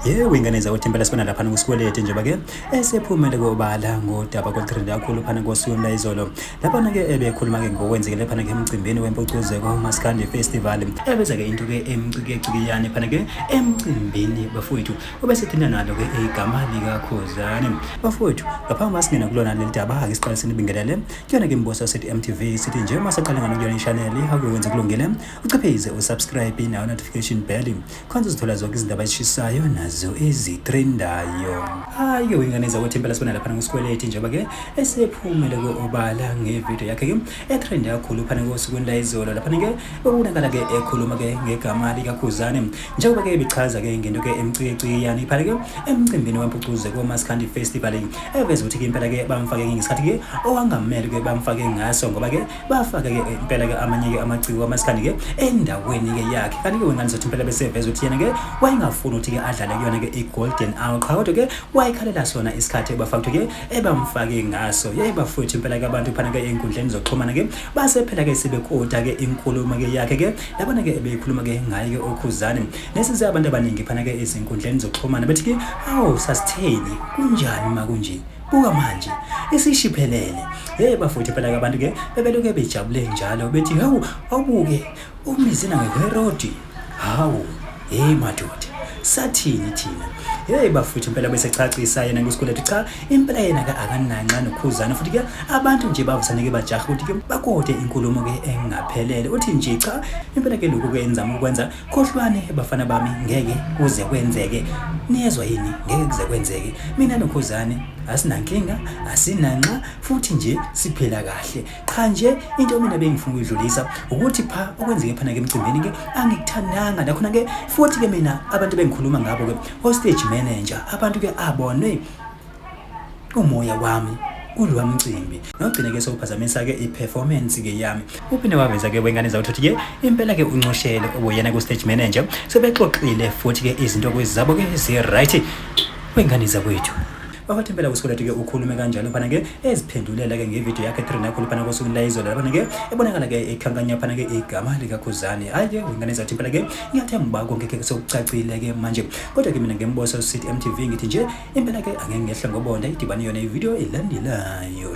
yebo ingane zakuthi impela sibona laphana kusikweleti njengoba ke esephumele kobala ngodaba kwetrend kakhulu phana kosuku layizolo laphana ke ebekhuluma ke ngokwenzekile phana ke emcimbini wempucuzeko umaskandi festival ebeza ke into ke emcikecikiyane phana ke emcimbini bafowethu obesithinta nalo ke igama likakhuzane bafowethu ngaphambi masingena kulona leli daba ake siqaliseni ibingelele Kuyona ke mbosa sithi MTV sithi nje uma saqala ngalo kuyona ishaneli akuwenze kulungile uciphize usubscribe nayo notification bell khonza uzithola zonke izindaba ezishisayo nazo ezitrendayo hayo ingane zakwethu impela sibona lapha ngosikweleti njengoba ke esephumele ku-obala ngevidiyo yakhe ke etrende kakhulu phana kosukwini layizolo lapha ke bekubonakala ke ekhuluma ke ngegama likakhuzane njengoba ke ebichaza ke ngento ke emcikecikiyane iphale ke emcimbini wempucuze komaskandi festival eveza ukuthi ke impela ke bamfake ngesikhathi ke owangamele ke bamfake ngaso ngoba ke bafake ke impela ke amanye ke amaciko amaskandi ke endaweni ke yakhe kanti ke wengane zethu impela beseveza ukuthi yena ke wayengafuni ukuthi ke adlale kuyona ke i-golden hour qha kodwa ke wayekhalela sona isikhathi ebafakuthe ke ebamfake ngaso yaye bafowethu impela ke abantu phana ke ey'nkundleni zokuxhumana ke base phela ke sebekota ke inkulumo ke yakhe ke labona ke beyikhuluma ke ngaye ke okhuzane nesenze abantu abaningi phana ke ezinkundleni zokuxhumana bethi ke awu sasitheni kunjani uma kunje buka manje isishiphelele hey bafowethu phela ke abantu ke bebeloke bejabule njalo bethi hawu awubuke umizina ngeherodi hawu Hey madoda, sathini thina? Hey bafuthu impela bese chachisa yena ngesikweletu cha, impela yena ka akananxa nokhuzana futhi ke abantu nje bavusaneke bajaha ukuthi ke bakode inkulumo ke engaphelele. Uthi nje cha, impela ke lokhu kwenza ukwenza khohlwane bafana bami ngeke kuze kwenzeke. Niyezwa yini? Ngeke kuze kwenzeke. Mina nokhuzane asinankinga, asinanxa futhi nje siphila kahle. Cha nje into mina bengifuna ukuyidlulisa ukuthi pha okwenzeke phana ke emcimbini ke angikuthandanga nakhona ke futhi ke mina abantu bengikhuluma ngabo ke o stage manager abantu ke abone umoya wami kulowa mcimbi nogcine ke sewuphazamisa ke i-performance ke yami uphinde waveza ke wengane zakho ukuthi ke impela ke uncoshele ubuyena ku-stage manager sebexoxile futhi ke izinto kwezabo ke zi-right wengane zakwethu Bakathempela kuSkolati ke ukhulume kanjalo phana ke eziphendulela ke ngevideo yakhe Trinakhulu phana kosuku layizolo lapha ke ebonakala ke ekhankanya phana ke igama likaKhuzani hayi ke ingane zathempela ke ngiyathemba konke ke sokucacile ke manje kodwa ke mina ngemboso City MTV ngithi nje impela ke angeke ngehle ngobonda idibane yona ivideo elandelayo